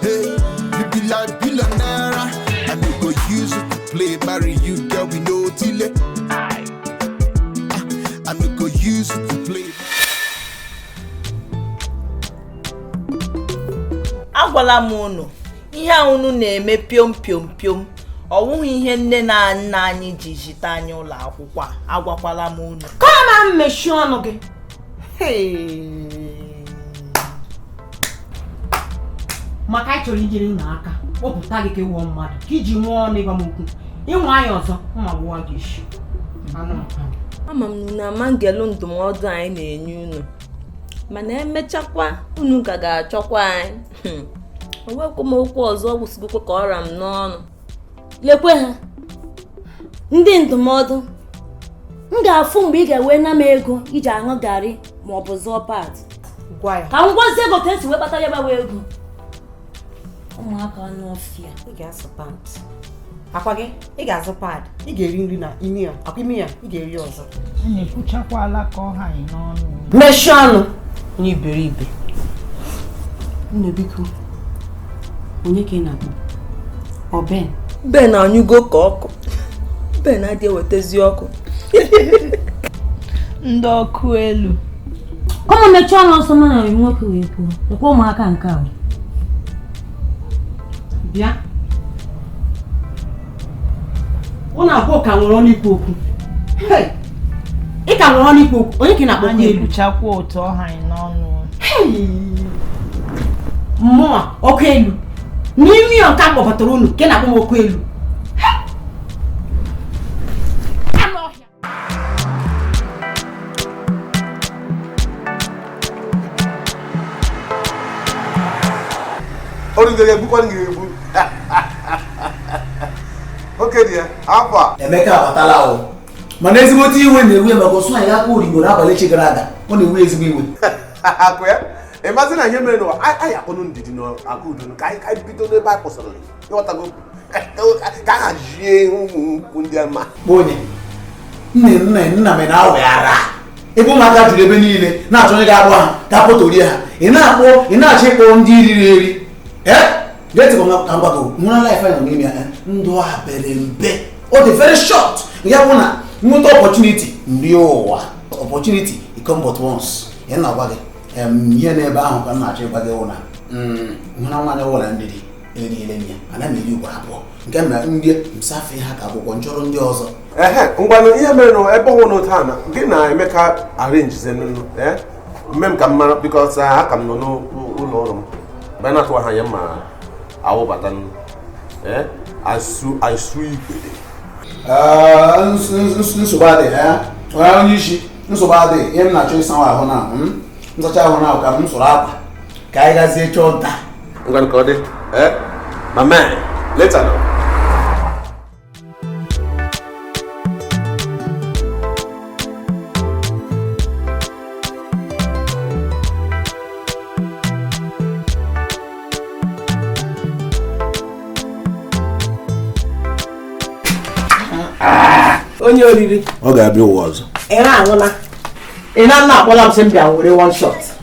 Hey, you be like billionaire. I no go use you to play, marry you, girl, we no delay. I I no go use you to play. agwala m unu ihe a unu na-eme piom piom piom ọ wụghị ihe nne na nna anyị ji zite anyị ụlọ akwụkwọ a agwakwala m unu Come on mechie ọnụ gị. maka anyị chọrọ inyere unu aka kpọpụta gị ka ị wụọ mmadụ ka i ji nwee ọnụ ịgwa m okwu ị nwaa anyị ọzọ m agbuwaa gị isi ama m na unu ama ngelu ndụmọdụ anyị na-enye unu mana emechakwa unu ka ga-achọkwa anyị hmm. o nwekwa m okwu ọzọ kwusigokwa ka ọ ra m n'ọnụ lekwe ha ndị ndụmọdụ m ga-afụ mgbe ị ga-ewe na m ego i ji aṅụ garị ma ọ bụ zụọ pad gwa ya ka m gwazie ego ka e si wee kpata ya gbawa ego ụmụaka anụ ọfịa ị ga-asụ pant akwa gị ị ga-azụ pad ị ga-eri nri n'ime ya akwa n'ime ya ị ga-eri ya ọzọ mechie ọnụ onye iberibe nne biko onye ka ị na-akpọ ọ Ben Ben anyụgo ka ọkụ Ben adị ewetazi ọkụ ndị ọkụ elu unu mechie ọnụ ọsọ mana nwoke wee kwuo lekwe ụmụaka nke a bịa unu abụọ ka nwere ọnụ ikwu okwu ị ka nwere ọnụ ikwu okwu onye ka ị na-akpọ anyị ekwuchakwa otu ọ ha anyị n'ọnụ mụwa ọkụ elu n'ime ya nke m kpọbatara unu ka ị na-akpọ m ọkụ elu Emeka abatala o mana ezigbote iwe na-ewe ya maka ọ sụ anyị aka origbo n'abalị echi gara aga ọ na-ewe ezigbo iwe ị mazi na ihe mere n'ụwa anyị akpọnụ Ndidi na Akudo ka anyị bido n'ebe a kwụsịrị ị ghọtago ka ha jie ụmụ ukwu ndị ama onye nne nne nna m na-aweghara ebe ụmụaka juru ebe niile na-achọ onye ga-agba ha ka potorie ha ị na-akpọ ị na-achọ ịkpọ ndị riri eri ee getịbụ nwa ka mgbago nwụra life nọ n'ime ya ndụ a pere mpe ọ dị very short ya bụ na m nweta opportunity m rie ụwa opportunity it come but once ị na-agwa gị ihe n'ebe ahụ ka m na-achọ ịgwa gị wụ na mụ na nwaanyị wụ Ndidi eriele m ya ana m eri ugbo abụọ nke m na ndị m safe ha ka akwụkwọ m chọrọ ndị ọzọ ehe ngwanụ ihe mere na ebe ọ wụ n'otu a na gị na emeka arrange zienụ ee mee ka m mara because aka m nọ n'ụlọ ọrụ m mgbe na-atụ aha ya ma awụbata nụ ee asu asu igbede nsogbu adịghị ya onye onye isi nsogbu adịghị ihe m na-achọ ịsawa ahụ na m sachaa ahụ na ka m sụrụ akwa ka anyị gazie chọọ nta ngwanụ ka ọ dị ee eh? my man later now onye oriri ọ ga-abịa ụwa ọzọ ị na-aṅụla ị na-aṅụ akpọla m sị m bịa were one shot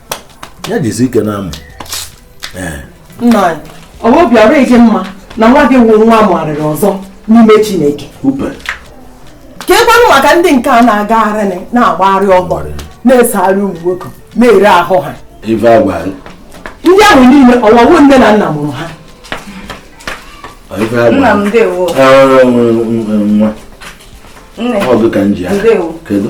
ya jizi ike na-amụ nna anyị ọ bụ obi adịghị gị mma na nwa gị wụ nwa amụgharịrị ọzọ n'ime chineke keekwanụ maka ndị nke a na-agagharị na-agbagharị ọgbọ na-esogharị ụmụ nwoke na-ere ahụ ha ndị ahụ niile ọ wụghị nne na nna mụrụ ha nna m ndewo nwa ọ bụ ka m ji ya kedu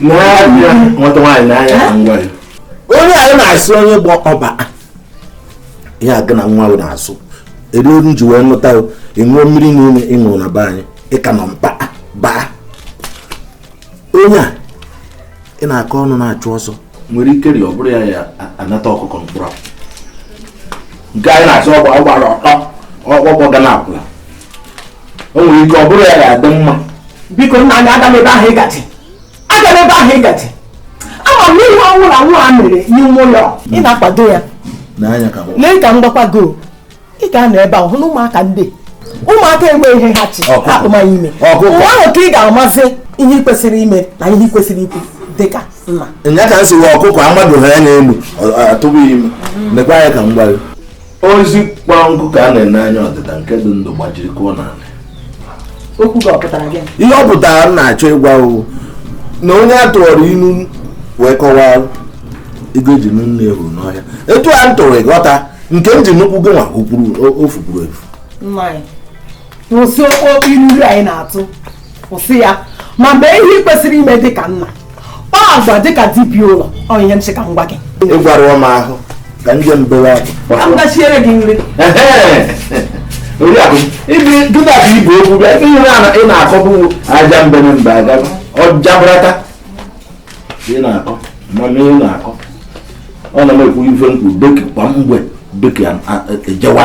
n'anya nwata nwaanyị n'anya na nwa ya onye anyị na-asị onye bụ ọba ihe agụ na nwa bụ na-asụ ebe olu ji wee nụta ị ṅụọ mmiri niile ị ṅụrụ na be anyị ị ka nọ mba baa onye a ị na-akọ ọnụ na-achụ ọsọ nwere ike rị ọ bụrụ ya ya anata ọkụkọ mkpụrụ nke anyị na-asị ọgba ọgbara ọtọ ọgbọgbọ ga na-akwụla o nwere ike ọ bụrụ ya ga-adị mma biko nna anyị agana ebe ahụ ị gaje agana ebe ahụ ị gaje ama m na ihe ọ wụla nwa a mere n'ime ụlọ ị na-akwado ya lee ka m gwakwa gị o. ị ga-anọ ebe ahụ hụ na ụmụaka ndị ụmụaka ewe ihe ha chi atụma ya ime mgbe ahụ ka ị ga-amazi ihe ị kwesịrị ime na ihe ị kwesịrị ikwu dịka nna nya ka m si wee ọkụkọ amadụ ha ya n'elu ọ- ọ- atụghị ime nekwa anya ka m gwa gị osisi kpọrọ nkụ ka a na-ene anya ọdịda nke dị ndụ gbajiri kụọ n'ala okwu gị ọ pụtara gịnị ihe ọ pụtara m na-achọ ịgwa gị wụ na onye a tụọrọ ilu wee kọwaa ego e ji nụ nne ya furu n'ọhịa etu a m tụrụ ị ghọta nke m ji nụkwu gị nwa o furu o- o fukwuru efu nwaanyị kwụsị okpokpo iruru anyị na-atụ kwụsị ya ma mee ihe ị kwesịrị ime dị ka nna kpaa agwa dị ka dibiụlọ ọ ihe m sị ka m gwa gị ị gwarụọ m ahụ ka ndị mbewe ka m gachiere gị nri oriakụ ibi dịka ka ibu okwu bịa ebe ihe na- ị na-akọ bụ ajambene mbe aga ọjabrata ị na-akọ mana ị na-akọ ọ na m ekwu ife m kwu beki kwa mgbe beki ejewa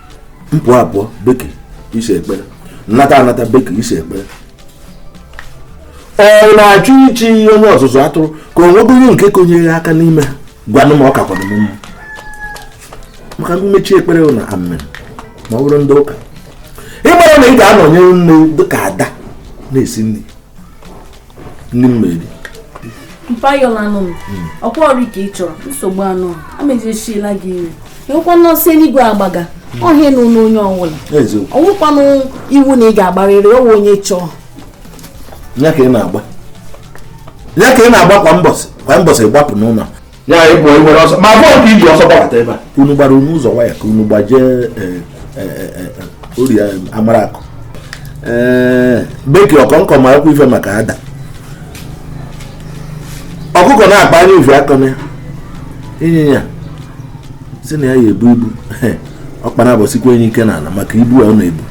m pụọ apụọ beki isi ekpere m nata anata beki isi ekpere ọ na-achọ ichi onye ọzụzụ atụrụ ka o nwego onye nke konyere aka n'ime ha gwanụ m ọ ka kwadoro mma maka mmechi ekpere na amen ma ọ bụrụ ndị ụka ịgbara na ị ga-anọnyere nne dịka ada na-esi nri ndị mmeri mpayola anụ m hmm. ọkwa ọrụ ka ị chọrọ nsogbu anụ amejisiela gị iri ịhụkwa nọọsụ eluigwe agbaga hmm. ọhịa na ụlọ onye ọbụla ọ wụkwanụ iwu na ị ga-agbarịrị ọ wụ onye chọọ ya ka ị na-agba ya ka ị na-agba kwa mbọsị kwa mbọsị gbapụ n'ụlọ ya ịbụ nwere ọsọ ma bọọlụ ka i ji ọsọ gbabata ebe a unu gbara unu ụzọ waya ka unu gbajie eh, eh, eh, ori amara akụ beki ọkọnkọ ma ekwu ife maka ada ọkụkọ na-akpa anya uvi akọ na ịnyịnya sị na ya ya ebu ibu ọkpara abọsikwa enyi ike n'ala maka ibu a ọ na-ebu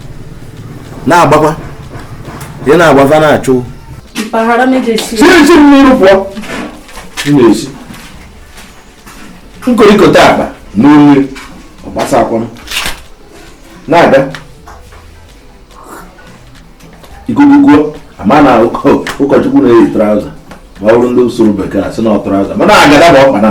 na-agbakwa ị na-agbafa na-achụ mpaghara mejesie siri siri n'iru pụọ na-esi nkorikọta akpa na mmiri ọgbasa akwụrụ na-aga ikuku kuo a ma na ụkọchukwu na-eyi traụza ma ọ bụrụ ndị usoro bekee asị na ọ traụza mana agada bụ ọkpa na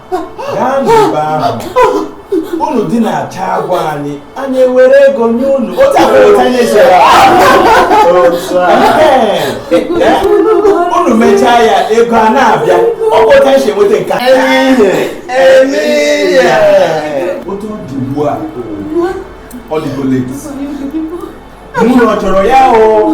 gaa n'ebe ahụ unu dị na-acha agwa anyị anyị ewere ego nye unu otu a mere otu anyị si ya. Otu a. Ee, unu mechaa ya ego a na-abịa ọ bụ otu anyị si enweta nke a. Emilia. otu ọ dị ugbu a ọ dịgo late mụ na ọ chọrọ ya o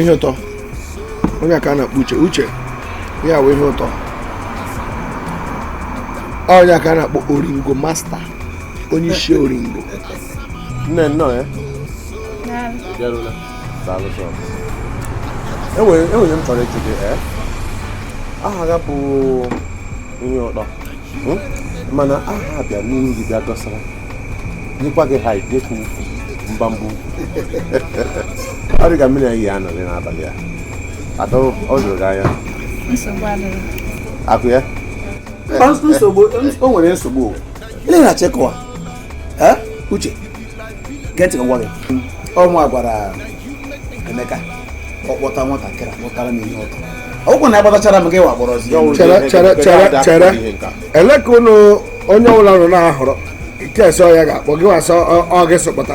ihe ụtọ onye a ka a na-akpọ uche uche ya wee ihe ụtọ onye a ka a na-akpọ oringo master onye isi oringo nne nnọọ ya eh? enwere ihe m chọrọ ịjụ gị eh? aha ya bụ ihe ụtọ hmm? mana aha bịa n'ihu gị bịa dọsara nyekwa gị ha idekwu mbambụ ọ dị ka mmiri anyị ya anọghị n'abalị a atọ ọ dụrụ gị anya akụ ya o nwere nsogbu o. Ele na Checoa. uche gee ntị gwa gị ọ mụwa gwara emeka ọ kpọta nwatakịrị akpọtara m ihe ụtọ ọ wụ na agbatachara m gịwa kpọrọzi ya ụlọ chere chere chere chere ele ka ụnụ onye ọbụla nọ na-ahọrọ nke sọ ya ga-akpọ gị wasọ ọ gị so kpọta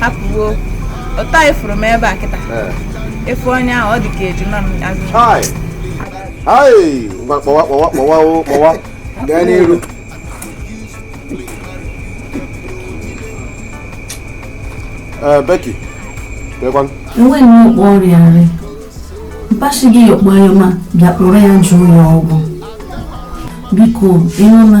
hapụwo ụtọ anyị fụrụ m ebe a kịta efu onye ahụ ọ dị ka ejima m azụ ngwa kpọwa kpọwa kpọwa kpọwa gaa n'iru Becky lekwan enwe nnọọ kpọ ọrịa nri mpashi gị yọkpọ ya ma bịa kpọrọ ya jụọ ya ọgwụ biko ị nụna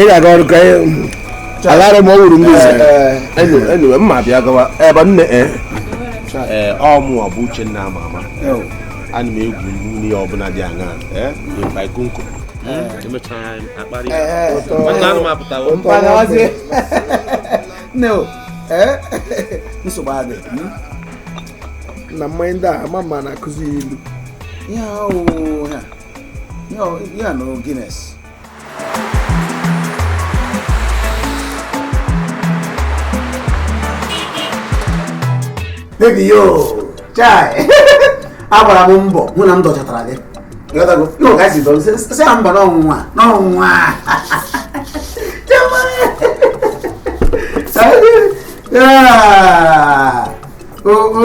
ị ga-aga ọrụ ka alara m ọ wụrụ ndị enyiwe mma bịa gawa ebe nne e ee ọ mụwa bụ uchenna ama ama ana m egwu mmiri ọbụla dị aṅa ee baikonko emechara anyị akparị nwanne anụ m apụtawo nne o ee nsogbu adị na mmanya ndị a ama mma na-akụzi ilu ihe ahụ ya na Guinness baby yo chai agbara m mbọ hụ na m dọchatara gị ị ghọtago ihe ụka si dọrọ sị ya mba n'ọnwụnwa n'ọnwụnwa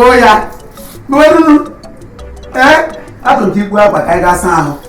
oya gbuerunu ee atụtụ ikwu akwa ka anyị gaa saa ahụ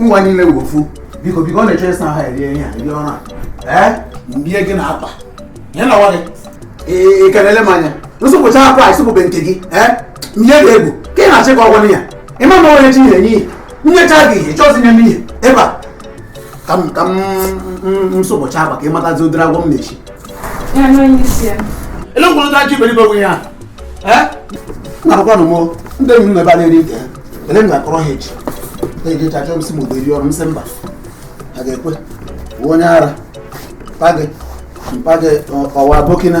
ụwa niile wụ ofu biko biko ọ na-eche ịsa ha erie ihe a rie ọrụ a mbie gị na akpa ya na nwa gị ị kelele m anya m sụpụcha akwa a ị sụpụbe nke gị mbie gị egwu ka ị na-achị ka ọgwụ ya ị ma na onye chi ihe nye ihe nyecha gị ihe chọzi nye m ihe ebe a ka m ka m sụpụcha akwa ka ị matazi ụdịrị agwọ m na-echi ele ngwụrụ ndị ajọ iberibe onwe ya na-akwụkwanụ m ndị enyi m na ebe a na-eri nke ele m na-akọrọ ha echi na-ejecha achọ m sị m udo eri ọrụ m sị mba ha ga-ekwe onye ara mpa gị ọwa bokina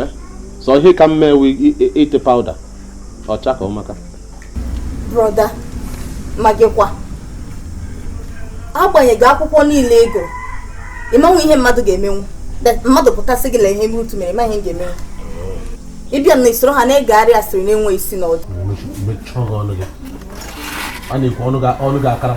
eh? sọ ihe ka mma ewu ite powder ọcha ka ọmaka brother ma gịkwa agbanyeghị akwụkwọ niile ị gụrụ ị manwu ihe mmadụ ga-emenwu mmadụ pụta sị gị lee ihe Ruth mere ma ihe ga-emenwu ị bịa na-esoro ha na-agagharị asịrị na-enweghị isi na ọdụ a na-ekwu ọnụ ga-akara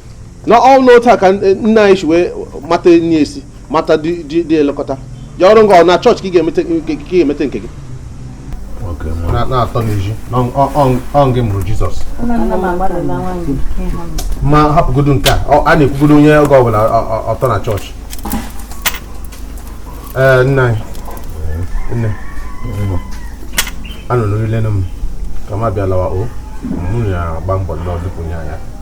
na ọ na otu a ka nna anyị si wee mata enyi esi mata dị elekọta ya ọrụ nga ọ na chọọchị ka ị ga-emete nke gị na-atọ n'ezi ọ gị mụrụ jizọs ma hapụgodo nke a a na-ekwugodo onye oge ọbụla ọ tọ na chọọchị ee nna anyị nne anọ n'orile m ka m abịa lawa o m na-agba mbọ n'ọdụpụ nye anya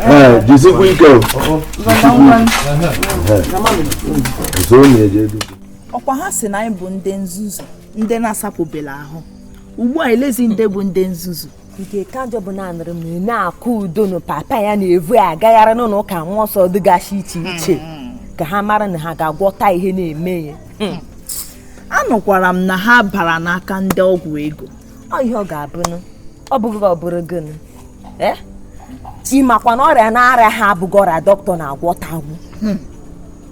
Ee, jisikwa ike o. Nso ọ na-eje edu. ọkwa ha si na anyị bụ ndị nzuzu ndị na-asapụbela ahụ ugbu a elezi ndị bụ ndị nzuzu nke ka njọ bụ na anụrụ m na nne Akụudo na papa ya na-evu ya agagharị n'ụlọ ụka mmụọ nsọ dịgasị iche iche ka ha mara na ha ga-agwọta ihe na-eme ya anụkwara m na ha bara n'aka ndị ọgwụ ego ọ ihe ọ ga-abụnụ ọ bụghị ọ bụrụ gịnụ eh? ị makwa na ọrịa na-arịa ha abụghị ọrịa dọkịta na-agwọtanwu hmm.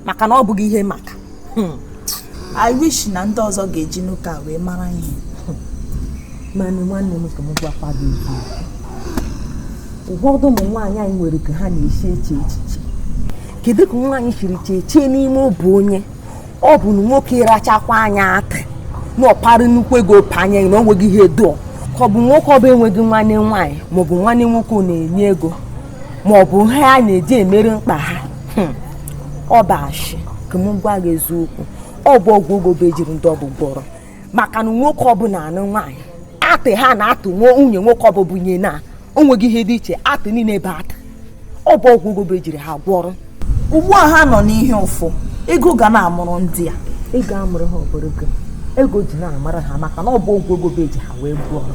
maka na ọ bụghị ihe maka hmm. I wish na ndị ọzọ ga-eji nke a wee mara ihe mana nwanne m ka m gwakwa gị ụfọdụ ụmụ nwaanyị anyị nwere ka ha na-esi eche echiche kedu ka nwaanyị siri chee chee n'ime obi onye ọ bụ na nwoke ịrachakwa anya atị na ọ para nnukwu ego panye na o nweghị ihe ọ dị ka ọ bụ nwoke ọbụ enweghị nwanne nwaanyị maọbụ nwanne nwoke ọ na-enye ego maọbụ ha a na-eji emere mkpa ha hmm. ọ bụ ashị ka m gwa gị eziokwu ọ bụ ọgwụ ego be ejiri ndị ọbụ gwọrọ maka na nwoke ọbụla anụ nwaanyị atị ha na-atụ nwunye nwoke ọbụ bunye na onweghị ihe dị iche atị niile ebe atị ọ bụ ọgwụ ego be ejiri ha gwọrọ ugbu a ha nọ n'ihe ụfụ ego ga na-amụrụ ndị a ego amụrụ ha ọ bụrụ ego ji na-amụrụ ha maka na ọ bụ ọgwụ ego be eji ha wee gwọrọ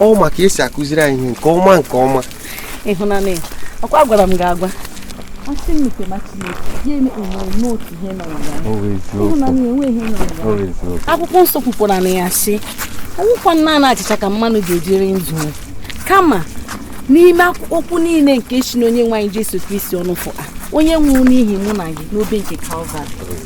ọ ma ka esi akụziri anyị ihe nke ọma nke ọma ịhụnanya ọ kwa agwara m gị agwa asị m nke ma Chineke ya emekpe nwere n'otu ihe nọ ya Ọ bụ eziokwu. ịhụnanya enweghị ihe nọ ya Ọ bụ eziokwu. akwụkwọ nsọ kwupụrụ na ya sị ọ wụkwa naanị achịcha ka mmanụ ga-ejiri ndụ ya." kama n'ime akwụ- okwu niile nke si n'onye nwe anyị Jesu Kristi ọnụ fụa onye nwụrụ n'ihi mụ na gị n'obe nke Kalvarị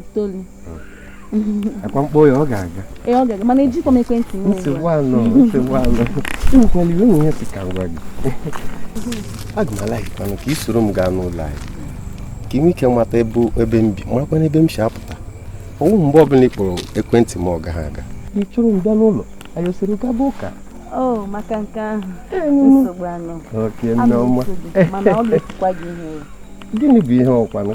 itoolu ọ kwa m kpọọ ya ọ ga-aga ee ọ ga-aga mana ejikwa m ekwentị m nsogbu anọ nsogbu anọ ewekwala iwe nwunye si ka m gwa gị aga m a-like kwanụ ka ị soro m gaa n'ụlọ anyị ka ị nwee ike mata ebe ebe m bi marakwana ebe m si apụta ọ wụ mgbe ọbụla ị kpọrọ ekwentị m ọ gaghị aga ị chọrọ m bịa n'ụlọ anyị osoro gaba ụka o maka nke ahụ nsogbu anọ okay Nneọma gịnị bụ ihe ọkwanụ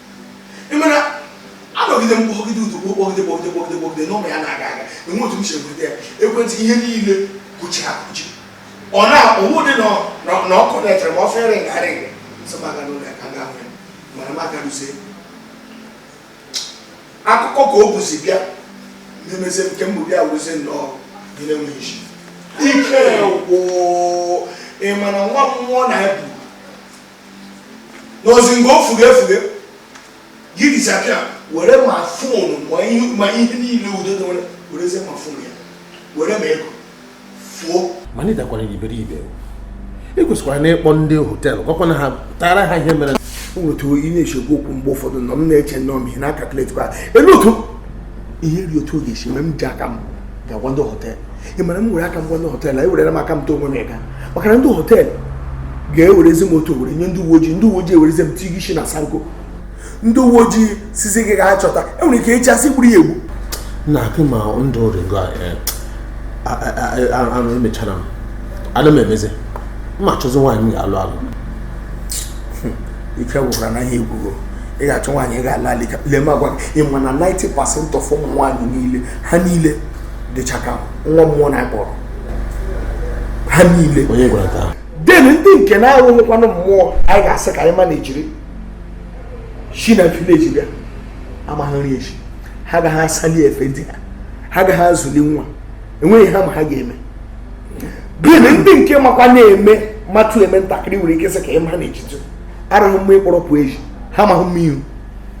ị mara anọgide m kpọgide udu kpọgide kpọgide kpọgide kpọgide nọmba ya na-aga aga enwe otu m si enweta ya ekwentị ihe niile kụchi akụchi ọ na-ọwụ dị na ọkụ na-etere ma ọ fere ngarị so m aga n'ụlọ ya ka m ga hụ ya mana m aga ruzie akụkọ ka o buzi bịa na-emezi nke mbụ bịa wụzie nnọọ ihe na-enweghị isi ike gwụ ị ma na nwa mmụọ na-ebu n'ozi ngo fuge fuge gị disappear were ma phone ma ihe ma ihe niile udo dị nwere werezie ma phone ya were ma ego fuo mana ị dakwara iberibe i kwesịkwara na ịkpọ ndị họteelụ gwakwana ha tara ha ihe mere otu ị na-esi ekwu okwu mgbe ụfọdụ nọ m na-eche nnọọ m ihe na-a-calculate kwa ele otu ihe ri otu ọ ga-esi mee m ji aka m ga-agwa ndị họteelụ ị ma na m were aka m gwa ndị họteelụ anyị werere m aka m too onwe m ịga maka na ndị họteelụ ga-ewerezi m otu ahụ were nye ndị uwe ojii ndị uwe ojii ewerezi m tighi isi na sango ndị uwe ojii sịzi gị gaa chọta e nwere ike echi a sị i gburu ya egbu na akị ma ndụ ringo anụ emechara m ana m emezi m achọzi nwaanyị m ga-alụ alụ hmm, ike gwụkwara na ihe ekwugo ị ga-achọ nwaanyị ị ga-alụ alụ ka lee m agwa gị ị ma na 90 percent of ụmụ nwaanyị niile ha niile dịcha ka nwa mmụọ na-akpọrọ ha niile then ndị nke na-awụghịkwanụ mmụọ anyị ga-asị ka anyị ma na-ejiri shi na village bịa ha amaghị nri esi ha gaghị asali efe di ha ha gaghị azụli nwa enweghị ihe ha ma ha ga-eme then ndị nke makwa na-eme matụ eme ntakịrị i nwere ike sị ka ị ma na-ejitu arịghị mma ị kpọrọ pụ ezi ha amaghị mma ihu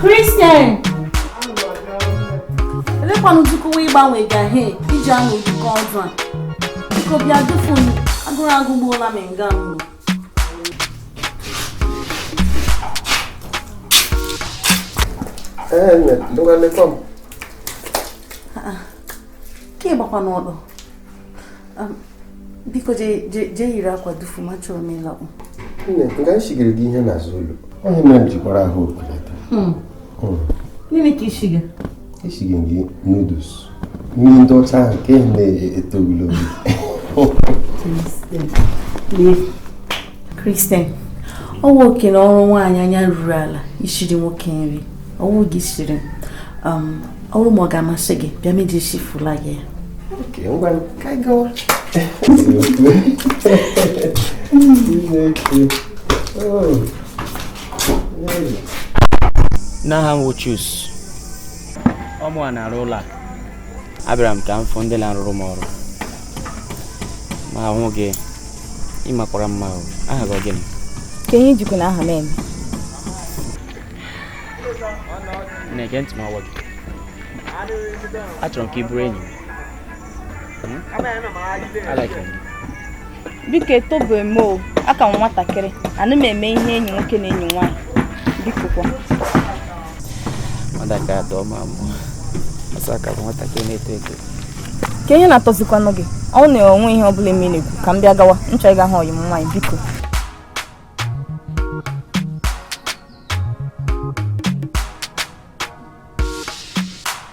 Christian! Elekwanụ uzukuwa ịgbanwe gahe iji anụ ụdịka ọdụ a. Biko bịa dufu m, agụrụ agụgbuola m nga mbụ. Ka ị gbakwa n'ọdụ. biko jee yiri akwa dufu m achọrọ m ịlakpu nne nga nshigiri gị ihe n'azụ ụlọ onye mere m jikwara ahụ okeleta hmm. hmm. gịnị ka i shiga eshighị gị noodles nri ndị ọcha ahụ nke na-eto ogologo Christian ọ wụ oke na ọrụ nwaanyị anya ruru ala isiri nwoke nri ọ wụ gị siri um, ọrụ ma ọ ga-amasị gị bịa m eji sifula gị n'aha m Chuks ọ mụa na-arụ ụlọ a abịara m ka m fụ ndị na-arụrụ m ọrụ mụ ahụ gị ị makwara mma ahụ aha gị ọ gịnị kee ihe i jikwanụ aha m eme nne gee ntị m gwa gị achọrọ m ka ị bụrụ enyi m hmm? biko etobeghị m o aka m nwatakịrị anaghị m eme ihe enyi nwoke na enyi nwaanyị biko kwa mmadụ aka atọ ma mụ ọsọ aka bụ nwatakịrị na-eto eto ka ihe na-atọzikwanụ gị ọ na-enwe ihe ọ bụla eme na-ekwu ka m bịa gawa m chọrọ ịga hụ ọyị m nwaanyị biko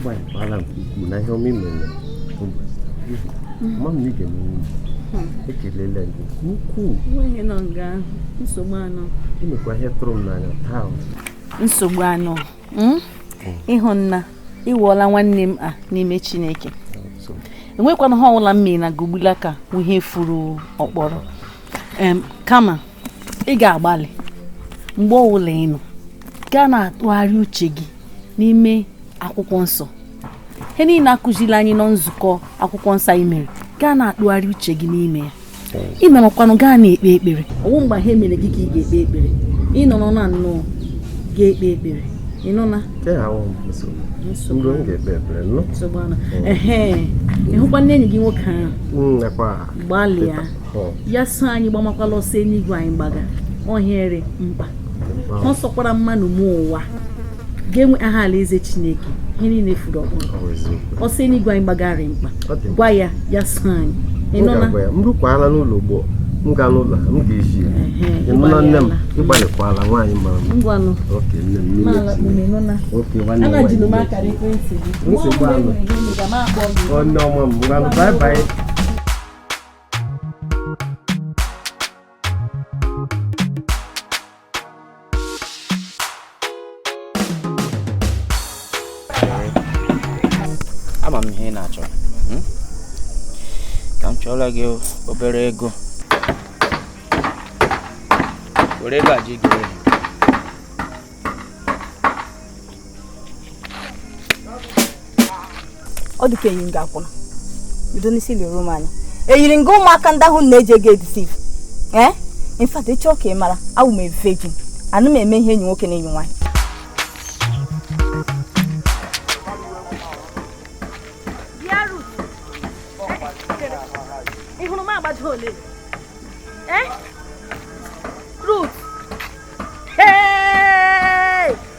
gbalịkwala nke ukwuu na ihe ọma i mere mama ige m ekelela gị nke ukwuu i mekwa ihe tụrụ m n'anya taa nsogbu anọ hmm? ị hụna ị wụọla nwanne m a n'ime chineke enwekwanụ ihe ọbụla m mere na gogbula ka ihe furu ọkpọrọ kama ị ga-agbalị mgbe ọbụla ị nọ gaa na-atụgharị uche gị n'ime akwụkwọ nsọ ihe niile a kụziri anyị na nzukọ akwụkwọ nsọ anyị mere gaa na-atụgharị uche gị n'ime ya i memakwanụ gaa na-ekpe ekpere ọ wụ mgbe ihe mere gị ka ị ga-ekpe ekpere ị nọrọ na nnọọ ga-ekpe ekpere ị nụna ị hụkwanụ enyi gị nwoke ahụ hmm, gbalịa ya so anyị gbamakwala ọsọ eluigwe anyị gbaga ohere mkpa ọ sọkwara mmadụ mee ụwa ga-enwe aha alaeze chineke ihe niile furu ọkpụrụ ọsọ eluigwe anyị gbagara mkpa gwa ya ya so anyị ị nụna m rukwaala n'ụlọ ugbu a m gaa n'ụlọ m ga-eji ya ị nụna nne m ị gbalịkwala nwaanyị mara mma ngwanụ oke nne m n'ime oke nwanne m nwaanyị nsogbu anụ onye ọma m ngwanụ bye bye ama m ihe ị na-achọ hmm? ka m chọọla gị obere ego were ego a ji gị ọ dị ka eyi m nga akwụna bido n'isi lere m anya eyiri m nga ụmụaka ndị ahụ na-eji ego edeceive ee in fact ị chọọ ka ị mara awụ m virgin anụ m eme ihe enyi nwoke na enyi nwaanyị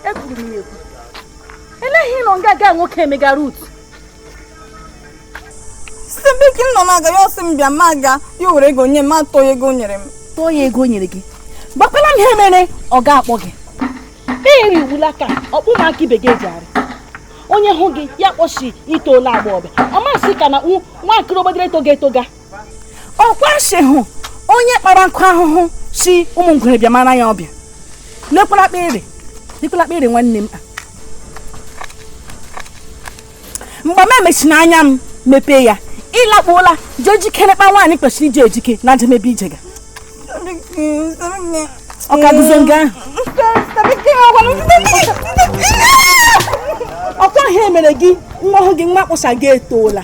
ekwuru m ya ekwu eleghị ị nọ nga nwoke emegara utu site mgbe ike m nọ na-aga ya ọ sị m bịa m agaa ya were ego nye m atụọ ya ego o nyere m tụọ ya ego o nyere gị gbakwala m ihe mere ọ ga-akpọ gị eri iwula ka ọkpụ m aka ibe gị eji arị onye hụ gị ya kpọ sị i toola agbọghọbịa ọ ma sị ka na nwatakịrị ogbodere etoga etoga ọkwa sị hụ onye kpara nkụ ahụhụ sị ụmụ ngwere bịa mara ya ọbịa n'ekwela kpere nwanne m mgbe m emechina anya m mepee ya ị lakpuola jee jikere kpa nwaanyị kwesịrị iji ejike na njemebe ijega ọ ka guzo nga ọkwa ihe mere gị nwa ọhụụ gị nwa kpọsa gị etoola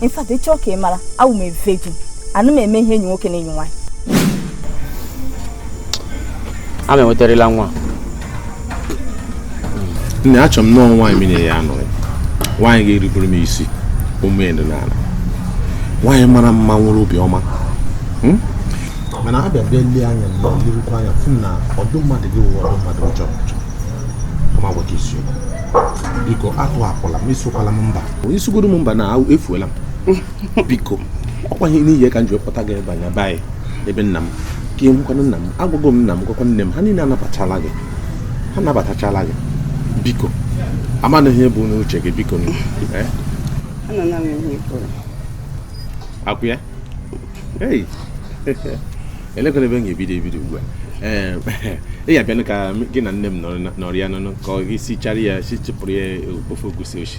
in fact ị chọọ ka ị mara awụ m virgin anụ m eme ihe enyi nwoke na enyi nwaanyị ama enwetarịla nwa nne achọ m nọọ nwaanyị m nyere ya anụrị nwaanyị ga-erubere m isi ume ya dị n'ala nwaanyị mara mma nwere obiọma hmm? mana abịa bịa lee anya m elerukwa anya fụ na ụdị mmadụ gị wụ ụdị mmadụ ọjọọ biko atụhapụla m asịkwala m mba ị sịgodu m mba na efuola m biko ọkwa ihe n'ihi ka m ji wepụta gị ebe anya be ebe nna m ka ihe nwekwana nna m agwago m nna m gwakwa nne m ha niile anabatachala gị ha nabatachala gị biko ka m manụ ihe i bu n'uche gị biko eh? akwụ ya elekwanụ ebe m ga-ebido ebido ugbu a ee ị ga-abịanụ ka gị na nne m nọrịanụ ka i sichara ya sichipụrụ ya ofe egusi oshi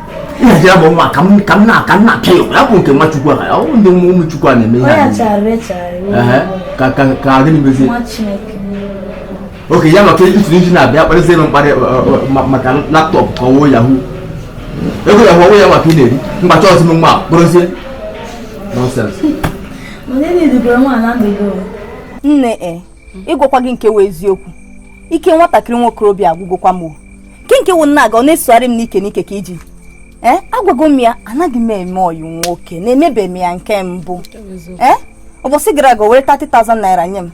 nhazi ya bụ nwa ka m ka m na ka m na-apịa ya ya bụ nke nwa chukwu a ọ bụ ndị nwa ụmụ chukwu a na-eme ihe a niile. Ehe, ka ka ka adị n'imezi oke ya maka itiri iji na-abịa kparịsị ebe mkparị ọ, ọ, ma- maka laptop ka ọ wụ yahoo ego yahoo ọ wụ ya maka ị na-eri mgbacha ọ sị m nwa kpụrụzie nonsense nne e ịgwakwa gị nke wụ eziokwu ike nwatakịrị nwokorobịa agwụgwọkwa m o. nke nke wụ nna aga ọ na-esogharị m n'ike n'ike ka ijiji eh, agwago m ya anaghị m eme ọyị nwoke na emebeghị m ya nke mbụ ee eh, ụbọchị gara aga o were 30,000 naira nye m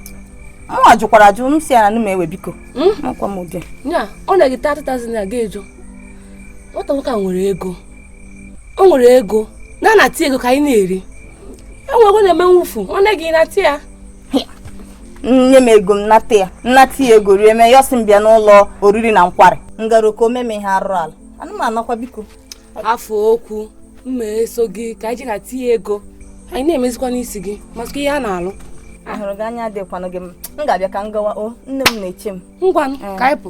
mụnwa jụkwara ajụ m sị ya ana m ewe biko hmm? makwa m ụdị ya o nye gị 30,000 naira gị ajụ nwata nwoke a nwere ego o nwere ego nata ya ego ka anyị na-eri e nwee ego na-eme mmefu o nye gị nata ya nye m ego m nata ya m nata ya ego rie mee ya ọ sị m bịa n'ụlọ oriri na nkwari m gara ka o mee m ihe arụrụala ana m anakwa biko hafụ okwu m ma-eso gị ka anyị jee nata ya ego anyị na-emezikwa n'isi gị maka ihe a na-alụ ahụrụ gị anya adịkwanụ gị m ga-abịa ka m gawa o nne m na-eche m ngwanụ ka anyị pụ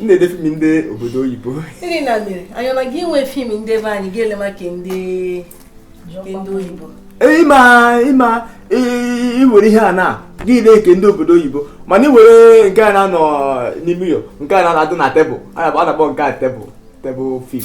m na-ele fim ndị obodo oyibo ndị na mere anyị anaghị enwe fim ndị be anyị ga-ele maka ndị oyibo ịma ịma i were ihe a na gị na-ele nke ndị obodo oyibo mana ị were nke a na-anọ n'ime ụlọ nke a na-adụ na tebụl a na-akpọ nke a tebụl tebụl fim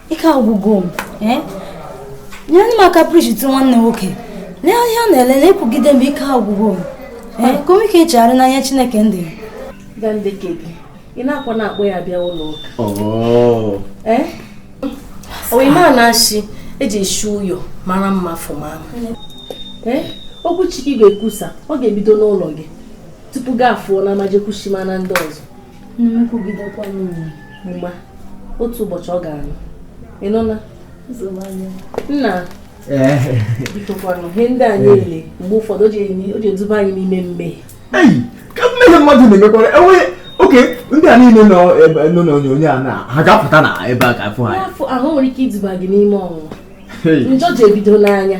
ike agwụgo m eh? nyere m aka prishit nwanne nwoke lee ihe ọ na-ele na ekwugide m ike agwụgo m eh? ka o nwee ike chegharịa n'anya chineke ndị ị na-akwa na-akpọ ya bịa ụlọ ụka oh. eh? onye ma na a sị eji eshi ụyọ mara mma fụma ama okwu chineke ị ga-ekwusa ọ ga-ebido n'ụlọ gị tupu gị afụọ n'ama jee kwushimara ndị ọzọ nkwugidekwa m mgba otu ụbọchị ọ ga-anụ ị nọ na nna bikokwanụ ihe ndị anyị na-ele mgbe ụfọdụ o ji eduba anyị n'ime mmehie ka mmehie mmadụ na-emekwara enweghị oke ndị a niile nọ n'onyonyo a na ha ga-apụta na ebe a ga-afụ ha ahụ nwere ike iduba gị n'ime ọnwụnwa njọ ji ebido n'anya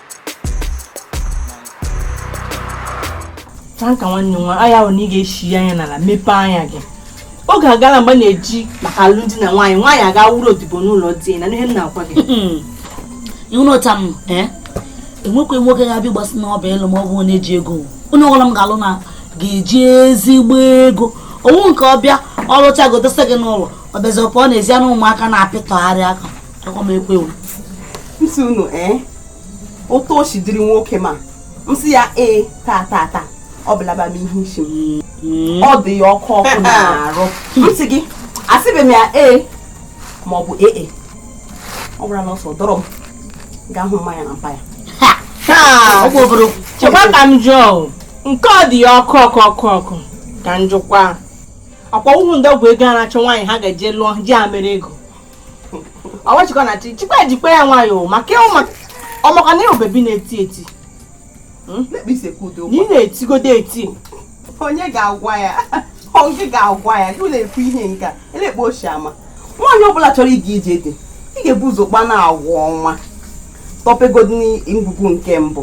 Franka nwanne nwa anya ahụ na ị ga-echi ya anya n'ala mepee anya gị oge agala mgbe a na-eji maka alụmdi na nwunye nwaanyị aga wụrụ odibo n'ụlọ di na ihe m na-agwa gị ihu na ụta m eh? enwekwa nwoke ga-abịa ịgbasi n'ọba elu ma ọ bụ onye ji ego onye ọbụla m ga-alụ na ga-eji ezigbo ego ọ wụ nke ọ bịa ọ lụcha gị dosa gị n'ụlọ ọ bịazi ọ pụọ n'ezi ya na ụmụaka na-apịtọgharị aka m sị unu ee otu o si dịrị nwoke ma m sị ya ee taa taa taa o bulaba m ihe isi m hmm. ọ dị ya ọkụ ọkụ n'arụ m sị gị asịbeghị m ya ee ma ọ bụ ee e. ọ gbara n'ọsọ dọrọ m gaa hụ mma ya na mpa ya chekwa ka m jụọ nke ọ dị ya ọkụ ọkụ ọkụ ọkụ ka m jụkwa akwa ụmụ ndị ọgwụ ego a na-achọ nwaanyị ha ga-eje lụọ ji ya mere ego ọwachikọ na chi chikwa ejikwa ya nwayọọ maka ị ma ọ maka na ị wụ bebi na-eti eti hmm? na ị na-etigodo eti onye ga-agwa ya onye ga-agwa ya gị na-ekwu ihe nke a elekpo ochie ama nwaanyị ọbụla chọrọ ịga ije di ị ga-ebu ụzọ kpa nwa agwa ọma tọpegodi ngwugwu nke mbụ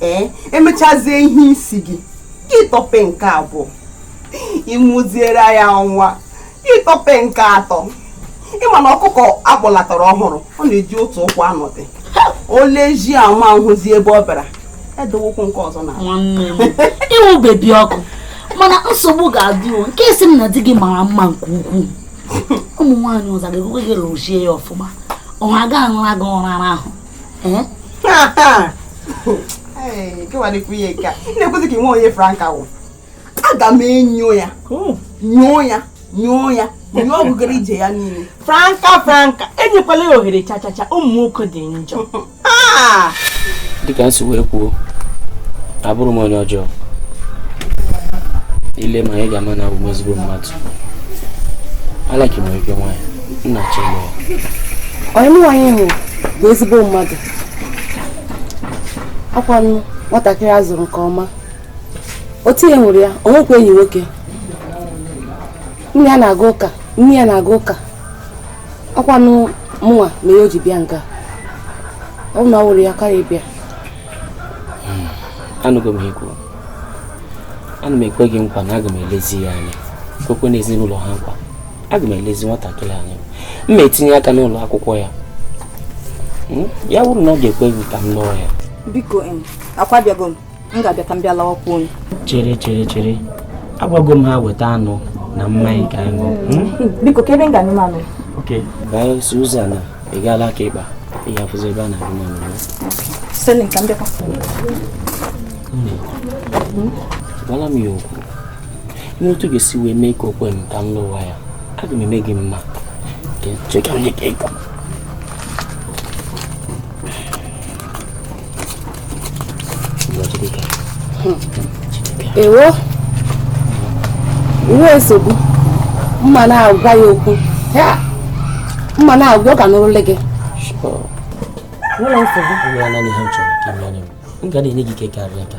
ee emechazie ihe isi gị ị tọpe nke abụọ ị mụziere ya nwa ị tọpe nke atọ ị ma na ọkụkọ akpọlatara ọhụrụ ọ na-eji otu ụkwụ anọdị o lezie ama ahụzi ebe ọ bịara edowokwu nke ọzọ na ị wụ bebi ọkụ mana nsogbu ga-adị o nke ị sị m na di gị mara mma nke ukwuu ụmụ nwaanyị ọzọ ga-ekwe gị lụzie ya ọfụma ọ ha ga-anara gị ụra ahụ na-ekwuzi ka nwe onye franka wụ aga m enyo ya nyoo ya nyoo ya onye ọgụgara ije ya niile franka franka enyekwala ya ohere chachacha ụmụ nwoke dị njọ ah! dịka m si wee kwuo abụrọ m onye ọjọọ i lee m anya ị ga-ama na abụ m ezigbo mmadụ alaki nwere ike nwaanyị m na-achọ onye nwaanyị ahụ bụ ezigbo mmadụ ọkwanụ nwatakịrị a zụrụ nke ọma otu ihe nwere ya o nwekwa enyi nwoke nne ya na-aga ụka nne ya na-aga ụka ọkwanụ mụnwa mere o ji bịa nga ọ wụrụ na ọ wụrụ ya ọ karaghị ịbịa hmm, anụgo m ihe i kwuru ana m ekwe gị nkwa na aga m elezi ya anya kwekwe na ezinụlọ ha nkwa aga m elezi nwatakịrị anya m ma etinye aka n'ụlọ akwụkwọ ya hmm, ya wụrụ na ọ ga-ekwe gị ka m lụọ ya biko akwabiago m m ga-abịa ka m bịa lawakwa chere chere chere agwago m ha weta anụ na mmanya ka anyị ṅụọ hmm? Hmm, biko ka ebe m ga-anụ anụ ok bye Susan ị gaa l'aka ịkpa ị ga-afụzi ebe a na-agụ m anụ Selin ka m bịakwa hmm. gwala m ya okwu mee otu ị ga-esi wee mee ka o kwe m ka m lụwa ya aga m eme gị mma cheka onye ka ego ewo o nweghị nsogbu m ma na-agwa ya okwu m ma na-agwa ọ ga-anụrụ olu gị nwere nsogbu m ga na-enye gị ike karịa ka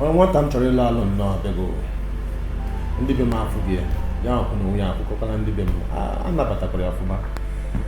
onye nwata m chọrọ ịlụ alụ nnọọ bịago ndị be m afụgo ya ya akwụ na onwe ya akwụkọkwana ndị be m anabatakwara ya ọfụma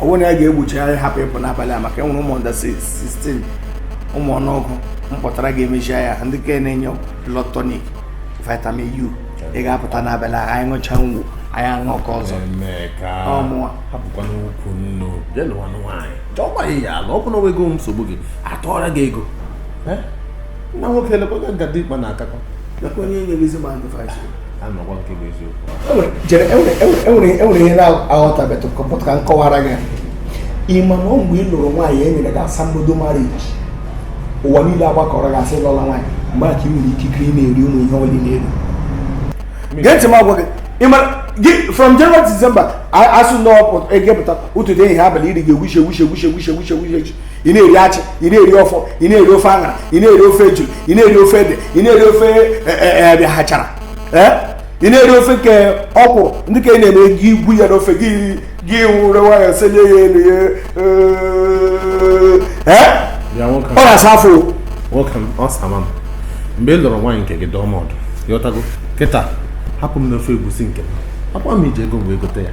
ọ bụrụ na ya ga-egbochi anyị hapụ ịpụ n'abalị a maka enwere ụmụ under 16 ụmụ ọnụ ụgụ m kpọtara ga-emechi ya ndị ka na-enye blood tonic vitamin u ị ga-apụta n'abalị a anyị ṅụcha ngwụ anyị aṅụ ka ọzọ ọmụwa hapụkwa n'ukwu nna je lụwa nwaanyị chọọkwa ya ya ala ọ bụ na ego nsogbu gị atụọra gị ego nwa nwoke elekwa ga-aga dị ikpe na-akakọ nakwa onye nyere ezi ma ndị enwere ihe na-aghọtabetụ ka nkọwara gị ịma na ọ mgbe ị lụrụ nwaanyị e nyere gị asambodo mariji ụwa niile agbakọrọ gị asị lọla nwaanyị mgbe aka ị nwere ikikere ị na-eri ụmụ ihe ọlị na-eri gee ntị m agwa gị gị from January to December asụ ndị ọpụ egepụta ụtụtụ ehihie abalị iri ga-egwuche egwuche egwuche egwuche egwuche egwuche ị na-eri achi ị na-eri ọfọ ị na-eri ofe aṅara ị na-eri ofe ejule ị na-eri ofe ede ị na-eri ofe e, e, e, achara ị na-eri ofe nke ọkwụrụ ndị ka ị na-eme gị igwu ya n'ofe gị were nwayọ senye ya elu ya ọ na-asa afọ nwoke m ọ sama m mgbe ị lụrụ nwaanyị nke gị dụọ m ọdụ ị ghọtago kịta hapụ m n'ofe egwusi nke m ọkwa m ji ego m wee gote ya